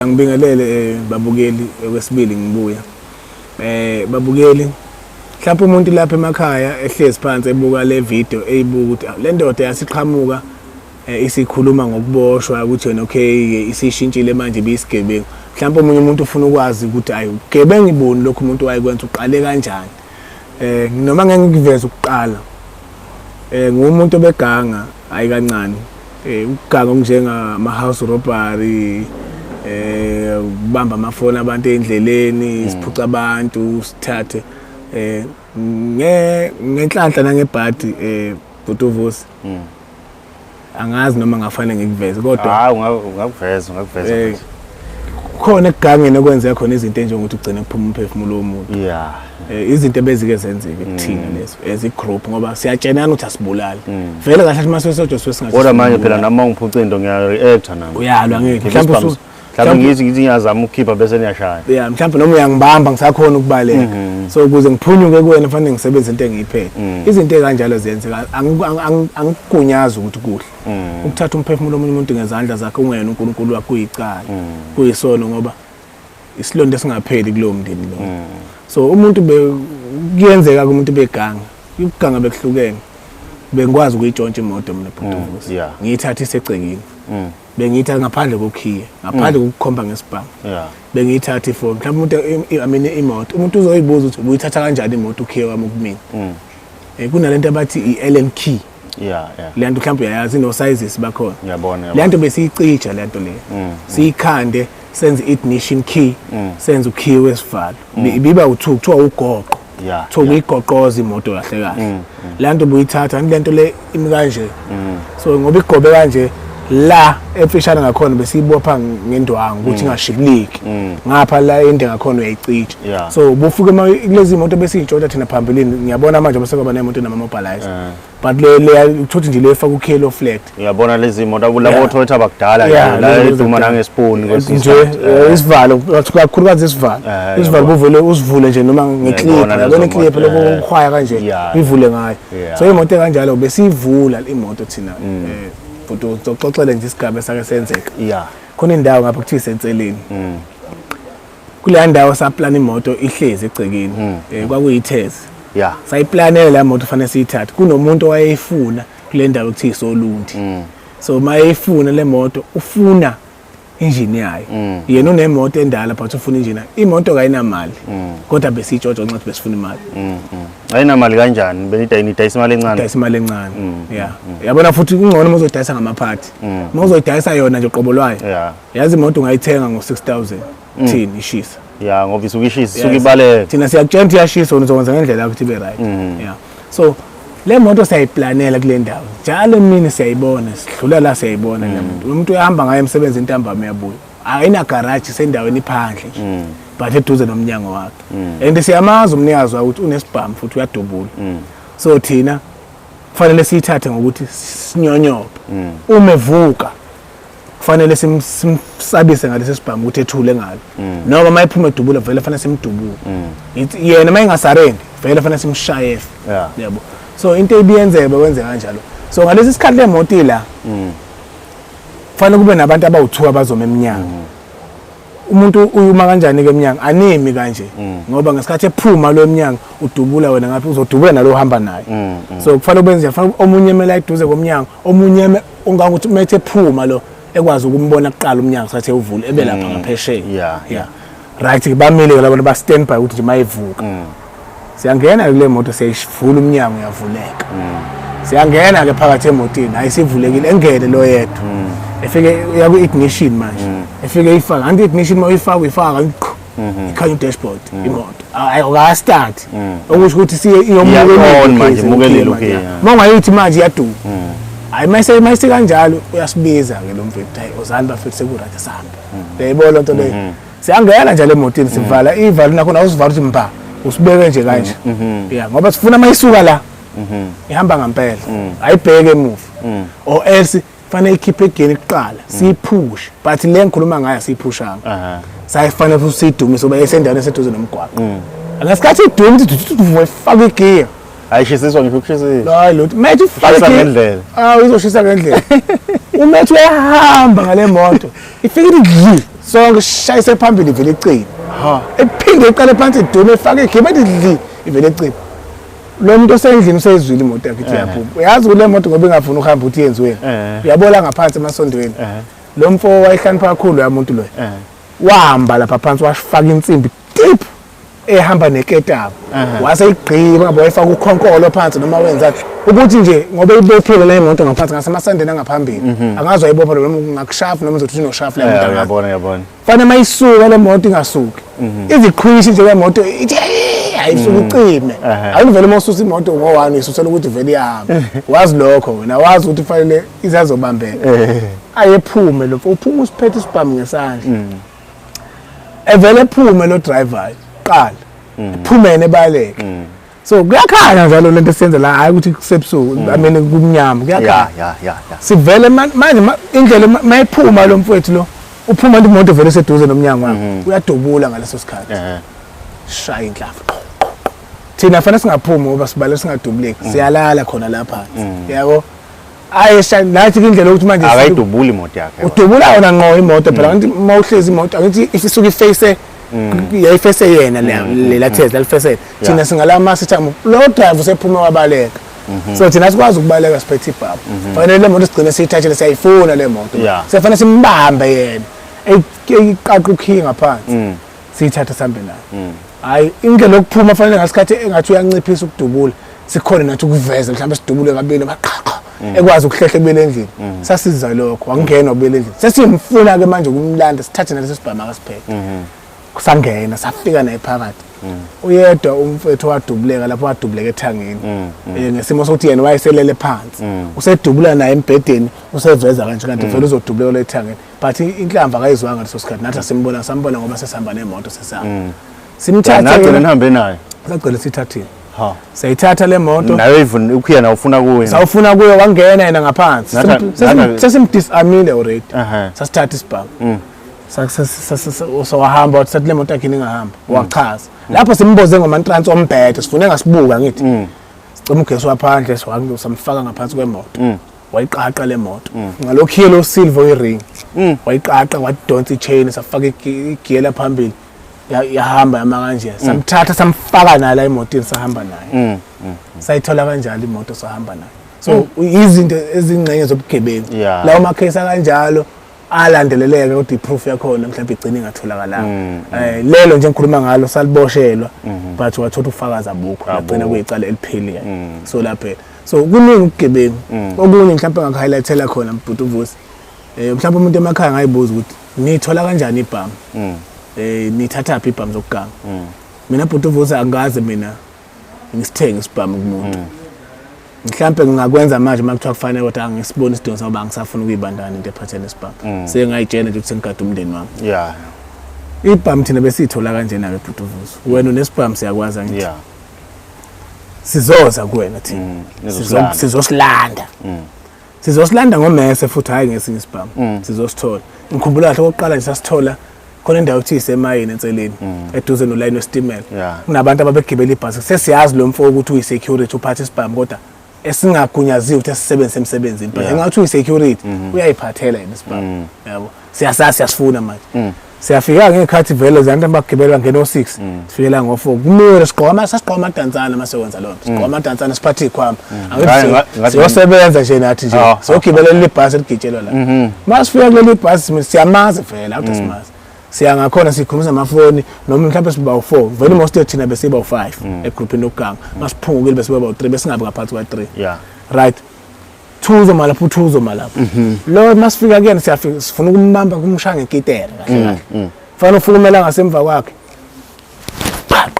Angibingelele eh, babukeli okwesibili ngibuya. Eh babukeli mhlawumbe umuntu lapha emakhaya ehlezi phansi ebuka le video eyibuka ukuthi ah, le ndoda yasiqhamuka eh, isikhuluma ngokuboshwa ukuthi yona okay isishintshile manje ibisigebengu. Mhlawumbe omunye umuntu ufuna ukwazi ukuthi ayi ugebengu iboni lokho umuntu wayekwenza uqale kanjani. Eh noma ngeke ngikuveze ukuqala. Eh ngumuntu obeganga hayi kancane eh ukuganga okunjenga ama house robbery eh ubamba amafoni abantu endleleni hmm. siphuca abantu sithathe eh nge ngenhlanhla nangebhadi eh butuvusi hmm. angazi noma ngafanele ngikuveze kodwa hayi ungakuveza ungakuveza eh, khona ekugangeni okwenze khona izinto enjengokuthi ugcine kuphuma umphefumulo womuntu yeah Eh, izinto ebezike zenzeke kuthina mm. lezo as igroup ngoba siyatshenana ukuthi asibulali mm. vele kahle uma sesojwa siwe singathi kodwa manje phela nami ungiphuca into ngiyareacta nami uyalwa ngeke mhlawumbe usu mhlawumbe ngithi ngithi ngiyazama ukukhipha bese niyashaya yeah mhlawumbe noma uyangibamba ngisakhona ukubaleka mm-hmm. so ukuze ngiphunyuke kuwena fanele ngisebenze into engiyiphethe mm. izinto ekanjalo ziyenzeka angikugunyaza ukuthi kuhle ukuthatha umphefumulo omunye umuntu ngezandla zakhe ungena uNkulunkulu wakho uyicala kuyisono ngoba isilonda esingapheli kulowo mndeni lo mm. so umuntu kuyenzeka kumuntu beganga ukuganga bekuhlukene bengikwazi ukuyitshontsha imoto mina bhutuvusi mm, yeah. ngiyithatha isegcekini mm. bengiyithatha ngaphandle kokhiye ngaphandle mm. kokukhomba ngesibhamu yeah. bengiyithatha ifoni mhlawumbe umuntu i mean imoto umuntu uzoyibuza ukuthi ubuyithatha kanjani imoto ukhiye wami kumina mm. eh kunalento abathi i-allen key yeah yeah le nto mhlawumbe uyayazi no sizes bakhona ngiyabona le nto besiyicija le nto le mm, mm. siyikhande senze ignition key mm. senze ukey wesivalo biba u2 kuthiwa ugoqo yeah so uyigoqoza imoto kahle kahle la nto buyithatha le nto le imi kanje so ngoba igobe kanje la efishane ngakhona besiyibopha ngendwangu ukuthi mm. ingashibiliki mm. ngapha la ende ngakhona uyayicija so bufike kulezi moto besiyintshotsha thina phambilini ngiyabona manje basekwaba nemoto enama-mobilize eh. but uthothi nje le efaka ukhelo flat uyabona lezi moto labo otholetha bakudala la iduma nangesipuni nje eh. Eh, isivalo kakhulukazi isivalo isivalo buvele usivule nje noma ngeclip yabona iclip lobo ukhwaya kanje ivule ngayo so imoto ekanjalo besiyivula imoto thina mm. bhuti uzoxoxele nje isigaba esake senzeka ya khona indawo ngapha kuthiwa isenseleni mm. kuleya ndawo saplana imoto ihlezi egcekeni um mm. eh, kwakuyithezi ya sayiplanele la moto fanele siyithathe kunomuntu owayeyifuna kule ndawo kuthiwa isolundi mm. so uma eyifuna le moto ufuna injini yayo mm. yena unemoto endala but ufuna injini imoto kayinamali mm. kodwa besitshotsho nxa besifuna imali mm, ayinamali kanjani benidayisa imali encane dayisa imali encane ya yabona futhi kungcono uma uzodayisa ngamaphathi uma uzoyidayisa yona nje qobo lwayo yazi imoto ungayithenga ngo-6000 kuthini mm. ishisa ya ngoba isuke ishisa isuke ibaleka thina siyakutshela ukuthi iyashisa wena uzokwenza ngendlela yakho ukuthi ibe right mm. ya so le moto siyayiplanela kule ndawo njalo emini siyayibona sidlula la siyayibona le mm. moto umuntu uyahamba ngayo emsebenzini intambama uyabuya ayina garage sendaweni iphandle nje but eduze nomnyango wakhe and siyamazi umnikazi wayo ukuthi unesibhamu futhi uyadubula so thina kufanele siyithathe ngokuthi sinyonyobe uma evuka kufanele simsabise ngalesi sibhamu ukuthi ethule ngalo mm. noma uma ephuma edubula vele fanele simdubule mm. yena uma engasarendi vele fanele simshaye yabo so into ebiyenzeka bekwenze kanjalo so ngalesi sikhathi le moto ila mm. kufanele kube nabantu abawu-two abazoma emnyango umuntu uyuma kanjani ke emnyango animi kanje mm. ngoba ngesikhathi ephuma lo emnyango udubula wena ngaphi uzodubula nalo uhamba naye mm, mm. so kufanele ukwenze kufanele omunye emele ayiduze komnyango omunye ungangokuthi umethe ephuma lo ekwazi ukumbona kuqala umnyango sathe uvule ebe lapha ngaphesheya yeah yeah right bamile ke labantu ba stand by ukuthi nje mayivuka siyangena-ke kule moto siyayivula umnyango uyavuleka mm. siyangena-ke phakathi emotini hayi sivulekile engene lo yedwa mm. efike uya kwi-ignition manje mm. efike ifaka anti i-ignition uma uyifaka uyifaka kanti qho mm-hmm. ikhanya udashboard imoto hayi okastart okusho ukuthi siye iyomukelelukile uma ungayithi manje iyaduka hayi mayise mayise kanjalo uyasibiza ke lo mfethu hayi ozani bafethu sekurathi sihamba uyayibona lento leyo mm-hmm. siyangena nje le motini sivala mm. ivalo nakhona awusivala ukuthi mba usibeke nje kanje mm, mm-hmm. ya ngoba sifuna uma isuka la mm-hmm. ihamba ngampela mm. ayibheke emuva or else fanele ikhiphe egeni kuqala siyiphushe but le ngikhuluma ngayo siyiphushanga sayifanele futhi siyidumise uba esendaweni eseduze nomgwaqo ngesikhathi iduma ukuthi ifake igiya ayishisiswa ngisho ukushisisa hayi lutho methi ufake ngendlela awu izoshisa ngendlela umethi uyahamba ngale moto ifike idli sonke shayise phambili vele icini ha ephinde iqale phansi idume ifake igebe idli ivele icini lo muntu osendlini useyizwile imoto yakhe ithi eh. yaphuma uyazi ukuthi le moto ngoba ingafuni ukuhamba ukuthi yenziweni eh. uyabola ngaphansi emasondweni eh. lo mfo wayehlanipha kakhulu ya muntu loyo wahamba lapha phansi washifaka insimbi deep ehamba neketanga wase igqima boyifaka ukhonkolo phansi noma wenza ukuthi nje ngoba ibophile le moto ngaphansi ngasemasandeni angaphambili mhm. angazi ayibopha noma ngakushafu noma uzothi unoshafu le moto yabona yabona fana mayisuka le moto ingasuki mhm. iziqhwishi nje le moto ithi ayisuke mhm. ucime ayivele uma ususa imoto ngo-one isusela ukuthi vele ihamba wazi lokho wena wazi ukuthi kufanele izazobambeka eh. ayephume lo uphuma usiphethe isibhamu ngesandla evele phume lo driver qala mm. phumene baleke mm. so kuyakhanya njalo lento esiyenza la hayi ukuthi kusebusuku mm. i mean kumnyama kuyakhanya sivele manje indlela mayiphuma lo mfowethu lo uphuma into imoto vele seduze nomnyango wakhe mm-hmm. uyadubula ngaleso sikhathi shaya inhlafu thina fanele singaphumi ngoba sibale singadubuleki mm. siyalala khona lapha yabo hayi shame nathi indlela yokuthi manje akayidubuli imoto yakhe udubula yona nqo imoto phela kanti uma uhlezi imoto angithi if isuke iface yayifese yena lela thezi lalifesele thina singalama sithamo lo drive usephuma wabaleka Mhm. so thina sikwazi ukubaleka siphethe ibhabha mhm. fanele le moto sigcine siyithathele siyayifuna le moto siyafanele simbambe yena eyiqaqa ukhiyi ngaphansi mm. siyithathe sambe nayo mm. hayi indlela yokuphuma fanele ngasikhathi engathi uyanciphisa ukudubula sikhona nathi ukuveza mhlawumbe sidubule kabili baqhaqha mm. ekwazi ukuhlehla kubele endlini mm. sasiza lokho wangenwa kubele endlini sesimfuna ke manje ukumlanda sithathe naleso sibhama akasipheke mm-hmm. kusangena safika naye phakathi uyedwa umfethu wadubuleka lapho wadubuleka ethangeni mm, mm. Eh, ngesimo sokuthi yena wayeselele phansi mm. usedubula naye embhedeni useveza kanje kanti vele uzodubuleka lethangeni but inhlamba akayizwanga ngaleso sikhathi nathi asimbona sambona ngoba sesihamba nemoto sesihamba mm. simthathe nagcina nihambe naye sagcina sithathile ha sayithatha le moto nayo even ukuyena ufuna kuwe sawufuna kuyo wangena yena ngaphansi sesimdisamile already sasithatha isibhamu mm. sawahamba wathi sathi le moto yakhe ingahamba mm. wachaza lapho simboze ngomantrans ombhede sifune ngasibuka ngithi sicela ugesi waphandle samfaka ngaphansi kwemoto wayiqaqa le moto mm. ngalokhu yellow silver i-ring mm. wayiqaqa wadonsa i-chain safaka igiyela phambili yahamba yama kanje mm. samthatha samfaka naye la emotini sahamba naye sayithola kanjalo imoto sahamba naye so izinto ezingxenye zobugebengu lawo makhesi akanjalo alandeleleke kodwa iproof yakhona mhlawumbe igcine ingatholakalanga mm, mm. eh lelo nje ngikhuluma ngalo saliboshelwa mm-hmm. but wathola ufakazi abukho agcina kuyicala eliphelile mm. so lapha so kuningi ubugebengu mm. okunye mhlawumbe ngakuhighlightela khona mbhuti uvusi um eh, mhlawumbe umuntu emakhaya ngayibuza ukuthi niyithola kanjani ibhamu um mm. eh, niyithathaphi ibhamu zokuganga mm. mina bhuti uvusi angikaze mina ngisithenge isibhamu kumuntu mhlawumbe ngingakwenza manje uma kuthiwa kufanele kodwa angisiboni isidingo sokuba ngisafuna ukuyibandana into ephathele isibhamu sengayitshena nje ukuthi sengigade umndeni wami ibhamu thina besiyithola kanjena-ke bhuti uvusi wena unesibhamu siyakwazi angithi sizoza kuwena thina mm, Sizo- sizosilanda mm. sizosilanda ngomese futhi hhayi ngesinye isibhamu mm. sizosithola ngikhumbula kahle okokuqala nje sasithola khona indawo okuthiwa isemayini enseleni eduze nolayini wesitimela Yeah. kunabantu ababegibela ibhasi sesiyazi lo mfo ukuthi uyi-security uphatha isibhamu kodwa esingagunyaziwe ukuthi asisebenzise emsebenzini but engathi uyi-security mhm. uyayiphathela yena isibaba mm. yabo siyasazi siyasifuna manje mm. siyafika ngekhathi vele zanto abagibela ngena o-six mm. sifikela ngo-four kumele sigqoma sasigqoma amadantsana uma sekwenza loo nto sigqoma amadantsana siphathe iy'khwama siyosebenza nje nathi nje ah, siyogibelela ah, ah. leli bhasi eligitshelwa la uma mhm. sifika kuleli bhasi siyamazi vele awude simazi siya ngakhona sikhulumisa amafoni noma mhlawumbe siba u-four vele most of thina besiba u-five mm. egruphini lokuganga mm. masiphungukile besiba bawu-three besingabi ngaphansi kwa-three right thuzo malapho uthuzo malapho mhm. lo masifika kuyena siyafika sifuna ukumbamba kumshaya ngekitera kahle mm, kahle fanele ufukumela ngasemva kwakhe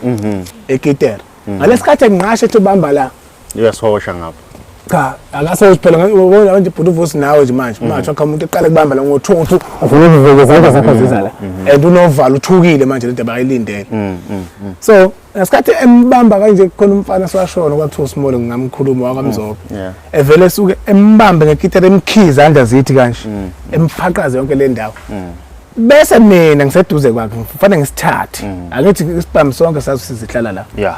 mhm. ekitera ngalesikhathi enginqashe ethi ubamba la Uyasihosha ngapha. Cha, akase uphela ngibona manje bhuti uvusi nawe nje manje. Mhm. Manje akha umuntu eqale kubamba la ngo-2 uthi ufuna ukuvika izandla zakho mhm. zizala. Mhm. And unovalo uthukile manje le ndaba ayilindele. So, ngesikhathi embamba kanje kukhona umfana swashona kwakuthiwa uSmole ngingamkhuluma wakamzobo. Evele esuke embambe ngekitara emkhiza izandla zithi kanje. Emfaqaze yonke le ndawo. bese mina ngiseduze kwakhe ngifanele ngisithathe mm. angithi isibhamu sonke sazi sizihlala la yeah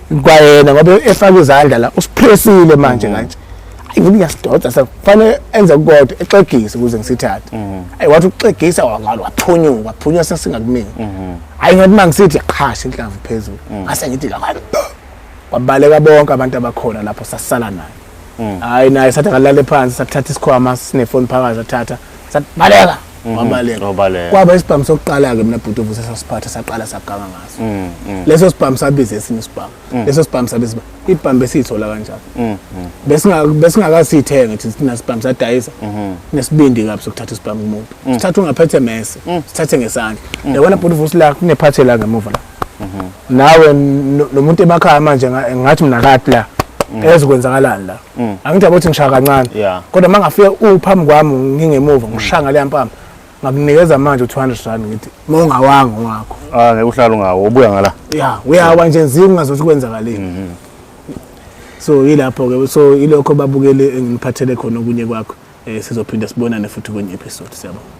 kwayena ngoba efaka izandla la usiphresile manje mm. kanje ayi mina ngiyasidoda sekufanele enze kodwa exegise ukuze ngisithathe mm. ayi wathi uxegisa wangalo waphunyuka waphunyuka sesingakumini mm-hmm. ayi ngathi mangisithi yaqhasha inhlamvu phezulu mm. ngase ngithi la kwabaleka bonke abantu abakhona lapho sasala naye Mm. hayi naye sathi akalale phansi sathatha isikhwama sinefoni phakathi sathatha sathi baleka Mhm. wabaleka Wabaleka. kwaba isibhamu sokuqala-ke mina bhuti ovuse sasiphatha saqala saganga ngaso Mm, mm, leso sibhamu sabiza esinye isibhamu leso sibhamu sabiza isibhamu. ibhamu besiyithola kanjalo mm, mm. Besinga- besingakasiyithenga thina thina sibhamu sadayisa Mhm. nesibindi kabi sokuthatha isibhamu kumuntu sithatha ungaphethe mese sithathe ngesandla yabona bhuti vusi la kunephathe la ngemuva la mhm. nawe nomuntu emakhaya manje ngathi mina kati la mm. ezikwenzakalani la mm. angithi abothi ngishaya kancane kodwa uma ngafike uphambi kwami ngingemuva mm. ngishaya ngaleya mpama ngakunikeza manje u-200 rand ngithi uma ungawanga owakho ah, ngeke uhlale ungawo ubuya ngala ya uyawa nje nzima ungazothi kwenzakaleni mhm. so yilapho-ke so ilokho babukeli engiphathele khona okunye kwakho um sizophinde sibonane futhi kwenye episode siyabona